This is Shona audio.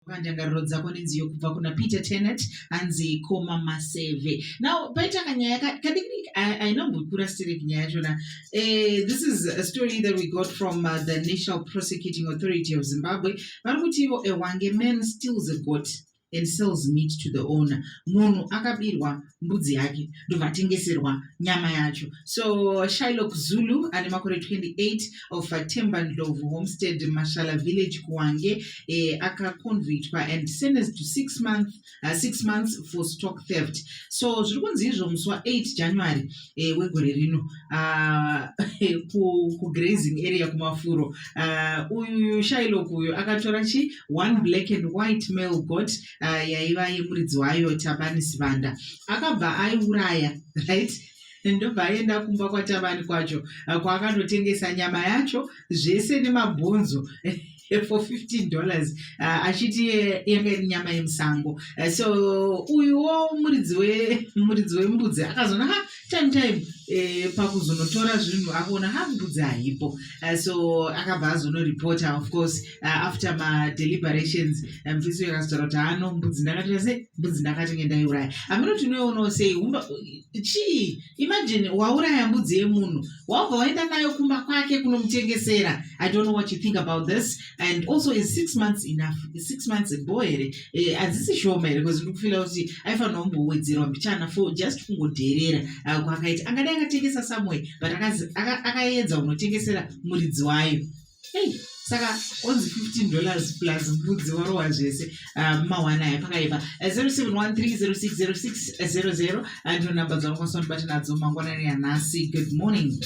pandangariro dzako nenziyo kubva kuna peter tenet hanzi koma maseve now paita kanyaya kadiki ainombokura sterek nyaya yachona eh, this is a story that we got from uh, the national prosecuting authority of zimbabwe vari kuti ivo ewange man stills a got and sells meat to the owner munhu akabirwa mbudzi yake ndobva atengeserwa nyama yacho so shilok zulu ane makore 28 of temba ndlovu homestead mashala village kuwange eh, akaconvictwa and sentenced to six, month, uh, six months for stock theft so zviri kunzi izvo musi wa8 january eh, wegore rino uh, kugrazing ku area kumafuro uh, uyu shilok uyu akatora chi one black and white male got uh, yaiva yemuridzi wayo tabani sivanda akabva aiuraya right ndobva aenda kumba kwatabani kwacho ah, kwaakandotengesa nyama yacho zvese nemabhonzo for 15 dollars uh, achiti yanga iri nyama yemusango uh, so uyuwo muridzi wemuridzi wembudzi akazoona ha time time eh, pakuzonotora zvinhu akuona ha mbudzi haipo uh, so akabva azonoripota of course uh, after madeliberations eh, mfisi um, yakazotaura kuti hano mbudzi ndakatora sei mbudzi ndakatenge ndaiuraya amino tinoionawo sei umba chii imagine wauraya mbudzi yemunhu waubva waenda nayo kumba kwake kunomutengesera i don't know what you think about this and also is six months enough is six months bo here eh, hadzisi eh, shoma here bcause ndikufila kuti aifanira kumbowedzerwa mbichana for just kungodherera ah, kwakaita angadai akatengesa someway but akaedza unotengesera muridzi wayo hey saka onzi 15 dollars plus mbudzi warowa zvese ah, mawana aya pakaipa 0713060600 ndiro namba dzavakwasanobata nadzo mangwanani yanhasi good morning